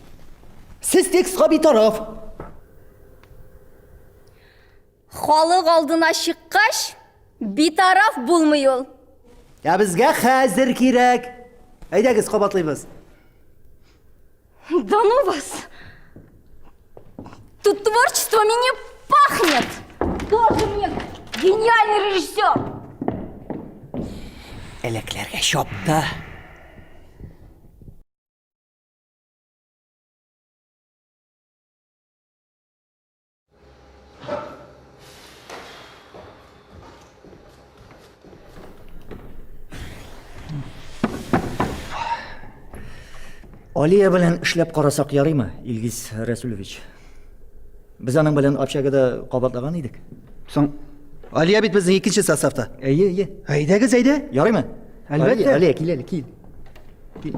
Сез текстка битараф. Халык алдына чыккач, битараф булмый ул. Ә безгә хәзер кирәк. Әйдәгез, кабатлыйбыз. Да ну вас! Тут творчествами не пахнет! Тоже мне гениальный режиссер! Элекләргә чапты. Алия белән эшләп карасак ярыймы, Илгиз Рәсүлевич? Без аның белән общагада кабатлаган идек. Соң Алия бит безнең икенче составта. Әйе, әйе. Әйдәгез, әйдә. Ярыймы? Әлбәттә. Алия, кил әле, кил. Кил.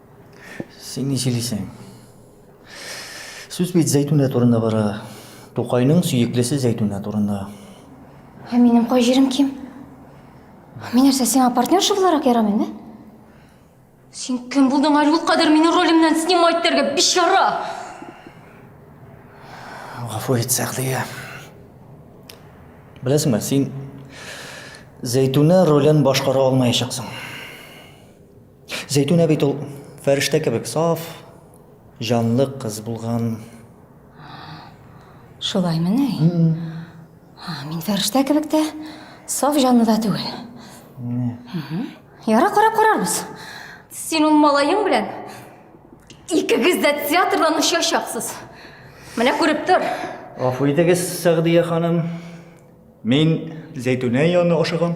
Син ни сөйлисең? Сүз бит Зәйтүнә турында бара. Тукайның сөеклесе Зәйтүнә турында. Ә минем кай җирем ким? Мин нәрсә сиңа партнерша буларак ярамыйм, да? Син кем булдың әле ул кадәр мине ролемнән снимать итәргә, бичара! Гафу ит, Сәгъдия. Беләсеңме, син Зәйтүнә ролен башкара алмаячаксың. Зәйтүнә бит ул фәрештә кебек саф, җанлы кыз булган. Шулаймы ни? Ха, Мин фәрештә кебек тә, саф җанлы да түгел. Мгм. Ярар, карап карарбыз. Син ул малаең белән икегез дә театрдан очачаксыз. Менә күреп тор. Гафу итегез, Сәгъдия ханым. Мин Зәйтүнә янына ашыгам.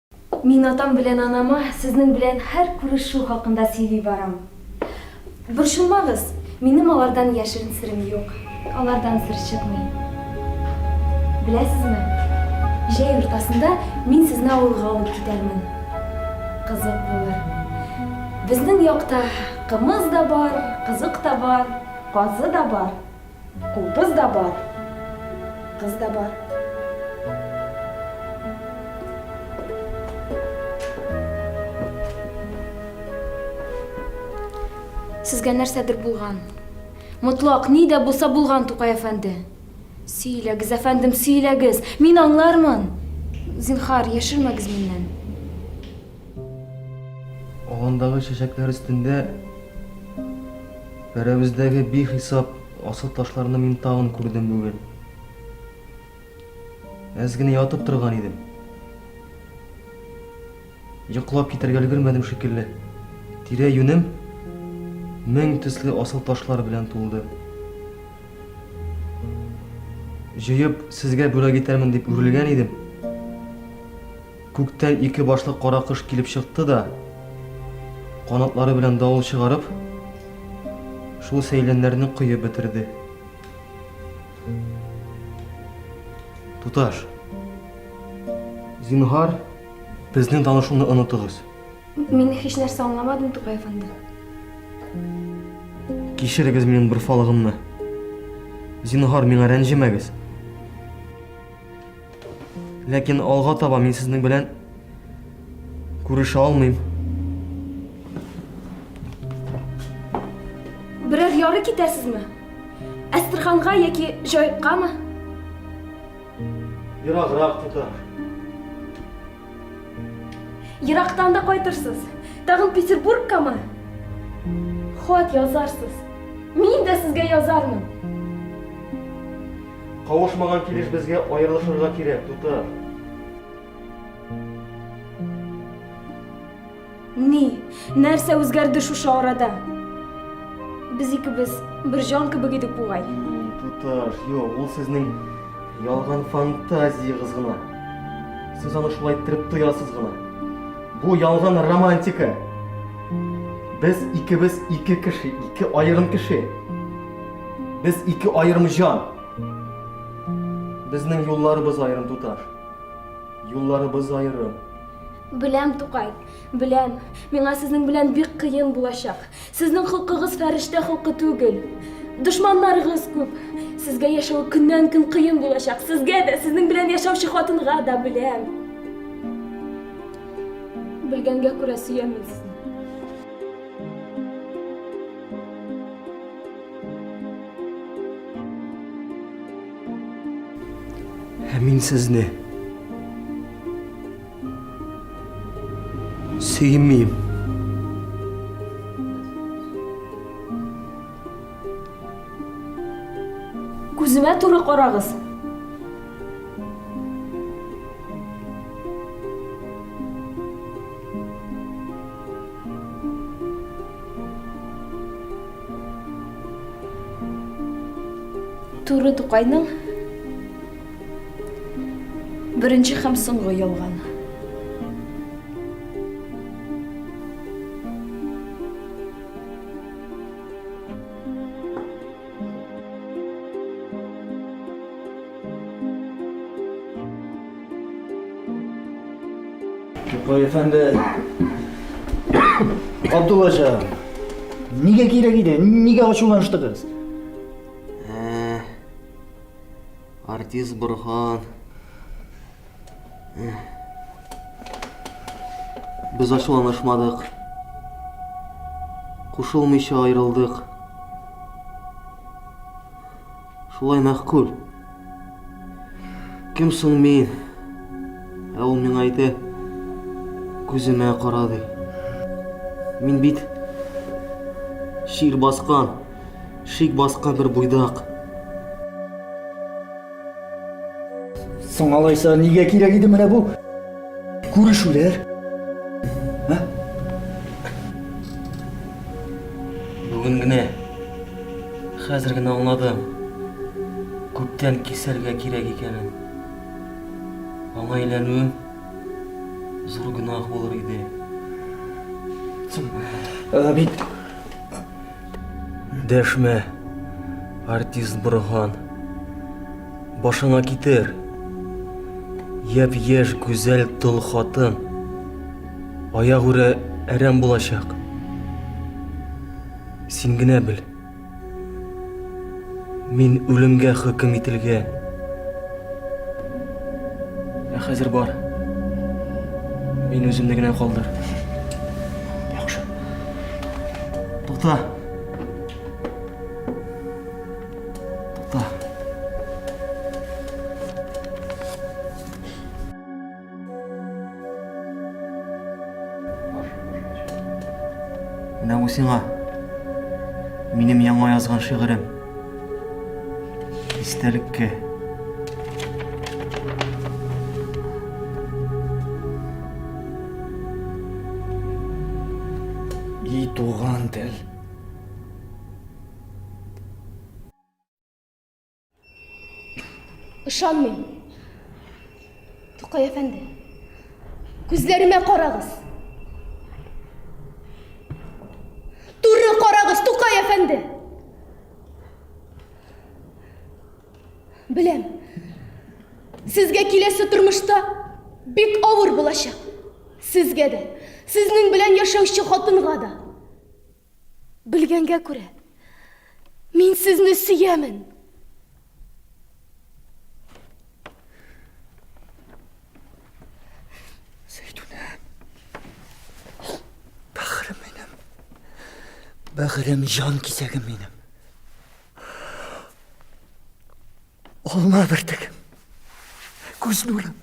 Мин атам белән анама сезнең белән һәр күрешү хакында сөйли барам. Борчылмагыз, минем алардан яшерен серем юк. Алардан сер чыкмый. Беләсезме, җәй уртасында мин сезне авылга алып китәрмен. Кызык булыр. Безнең якта кымыз да бар, кызык та бар, казы да бар. Кубыз да бар, кыз да бар. Сезгә нәрсәдер булган. Мотлак, ни дә булса булган, Тукай әфәнде. Сөйләгез, әфәндем, сөйләгез. Мин аңлармын. Зинхар, яшермәгез миннән. Аландагы чәчәкләр өстендә Бәрәбездәге бихисап асыл ташларны мин тагын күрдем бүген. Әз генә ятып торган идем. Йоклап китәргә өлгермәдем шикелле. Тирә юнем мең төсле асыл ташлар белән тулды. Җыеп, сезгә бүләк итәрмен дип үрелгән идем. Күктән ике башлы кара кош килеп чыкты да, канатлары белән давыл чыгарып, шул сәйләннәрне коеп бетерде. Туташ, зинһар, безнең танышуны онытыгыз. Мин һич нәрсә аңламадым, Тукай әфәнде. Кичерегез минем бер фалыгымны. Зинһар, миңа рәнҗемәгез. Ләкин алга таба мин сезнең белән күрешә алмыйм. Берәр яры китәсезме? Әстерханга яки Җаеккамы? Ераграк тота. Ерактан да кайтырсыз. Тагын Петербургкамы? Хат язарсыз. Мин дә сезгә язармын. Кавышмаган килеш безгә аерылышырга кирәк, Туты. Ни, нәрсә үзгәрде шушы арада? Без икебез бер җан кебек идек бугай. Туташ, юк, ул сезнең ялган фантазиягез гына. Сез аны шулай иттереп тоясыз гына. Бу ялган романтика. Без икебез ике кеше, ике аерым кеше. Без ике аерым җан. Безнең юлларыбыз аерым туташ. Юлларыбыз аерым. Беләм, Тукай, беләм. Миңа сезнең белән бик кыен булачак. Сезнең хокукыгыз фәрештә хокукы түгел. Дошманнарыгыз күп. Сезгә яшәү көннән-көн кыен булачак. Сезгә дә, сезнең белән яшәүче хатынга да беләм. Белгәнгә күрә сөямен Ә мин сезне сөймим. Күземә туры карагыз. Туры Тукайның беренче һәм соңгы ялган. Тукай әфәнде, Абдулла җан, нигә кирәк иде? Нигә ачуланыштыгыз? Ә, Артист Борхан Без ачуланышмадык. Кушылмыйча аерылдык. Шулай мәхкүл. Кем соң мин? Ә ул миңа әйтә, күземә кара ди. Мин бит шир баскан, шик баскан бер буйдак. Соң алайса нигә кирәк иде менә бу күрешүләр? Ә? Бүген генә хәзер генә аңладым. Күптән кисәргә кирәк икәнен. Аңа әйләнүем зур гөнаһ булыр иде. Соң, ә, бит Дәшмә, артист Борһан. Башыңа китер. Япь-яшь гүзәл тол хатын. Аягүрә әрәм булачак. Син генә бел. Мин үлемгә хөкем ителгән. Ә хәзер бар. Мин үземне генә калдыр. Яхшы. Тута. Тута. Менә бу сиңа. Минем яңа язган шигырем. Истәлеккә. И туган тел. Ышанмыйм. Тукай әфәнде, күзләремә карагыз. Туры карагыз, Тукай әфәнде. Беләм. Сезгә киләсе тормышта бик авыр булачак. Сезгә дә, сезнең белән яшәүче хатынга да. Белгәнгә күрә, мин сезне сөямен. Зәйтүнә, бәгырем минем, бәгырем, җан кисәгем минем. Алма бертек. Күз нурым.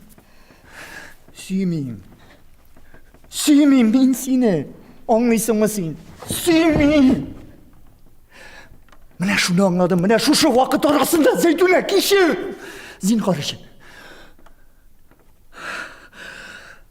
Сөймим. Сөймим мин сине. Аңлыйсыңмы син? Сөймим. Менә шуны аңладым. Менә шушы вакыт арасында Зәйтүнә кичер. Зинхар өчен.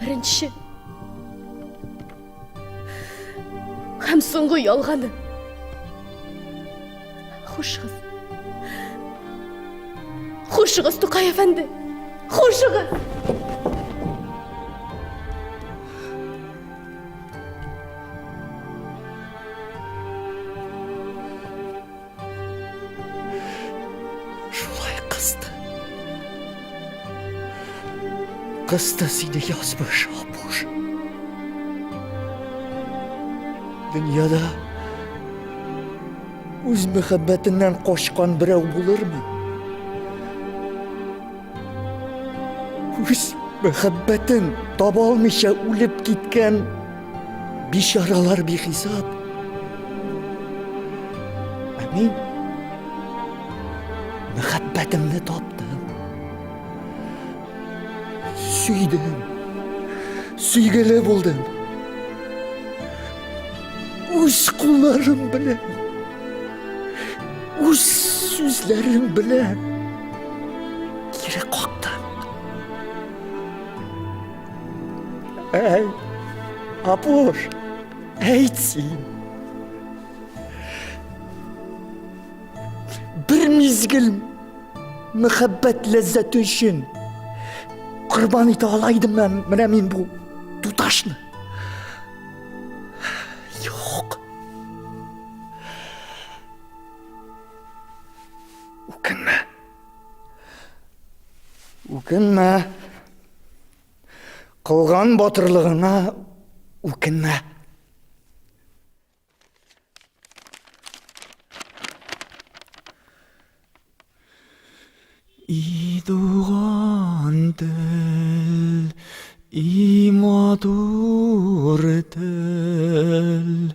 Беренче һәм соңгы ялганы. Хушыгыз. Хушыгыз, Тукай әфәнде. Хушыгыз. Шулай кысты. Кысты сине язмыш, Апуш. Дөньяда үз мәхәббәтеннән качкан берәү булырмы? Үз мәхәббәтен таба алмыйча үлеп киткән Бичаралар бихисап. Ә мин мәхәббәтемне таптым. Сөйдем. Сөйгеле булдым. Үз кулларым белән. Үз сүзләрем белән. Әй, Апуш, әйт син. Бер мизгел мәхәббәт ләззәте өчен корбан итә ала идем мен, менә мин бу туташны. Юк. Үкенмә. Үкенмә. Кылган батырлыгыңа үкенмә. И туган тел, и матур тел,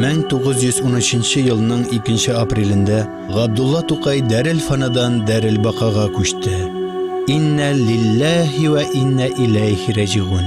Мең тугыз йөз унөченче елның икенче апрелендә Габдулла Тукай Дәрел Фанадан Дәрел Бакага күчте. Инна лилләһи вә инна иләйһи рәҗигун.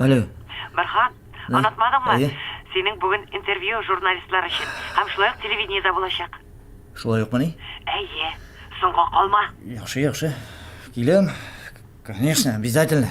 Алло. Бархан, онытмадыңмы? Әйе. Синең бүген интервью журналистлар өчен һәм шулай ук телевидениедә булачак. Шулай ук мени? Әйе. Соңга калма. Яхшы, яхшы. Киләм. Конечно, обязательно.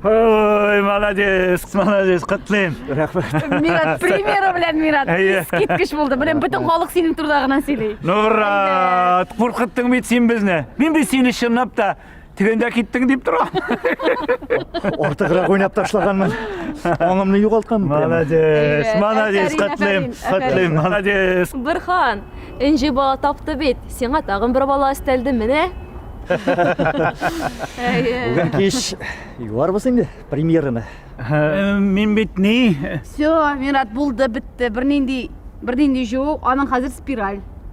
Ой, молодец, молодец, котлыйм. Рәхмәт. Мират примеры белән Мират. Искиткеч булды. Белән бөтен халык синең турда гына сөйли. Ну, брат, куркыттың бит син безне. Мин бит сине чынлап та Тегендә киттең дип тора. Артыграк уйнап ташлаганмын. Аңымны югалтканмын. Молодец, молодец, котлым, котлым, молодец. Бирхан, инҗи бала тапты бит. Сиңа тагын бер бала өстәлде, менә. Бүген кич юарбыз инде премьераны. Э, мин бит ни? Все, Мират булды, бетте. Бернинди, бернинди җуу, аның хәзер спираль.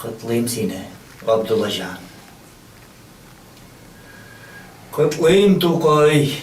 Котлыйм сине, Абдуллаҗан. Котлыйм, Тукай.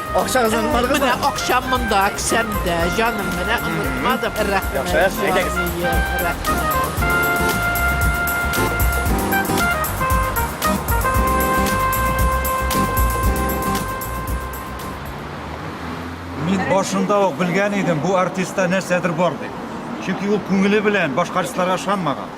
Акчагызны онытмадыгыз Менә да? акчам монда, кесәмдә, җаным, менә онытмадым. Рәхмәт. Яхшы, әйдәгез. җаныем, Рәхмәт. Мин башында ук белгән идем, бу артистта нәрсәдер бар дип. Чөнки ул күңеле белән башка артистларга ышанмаган.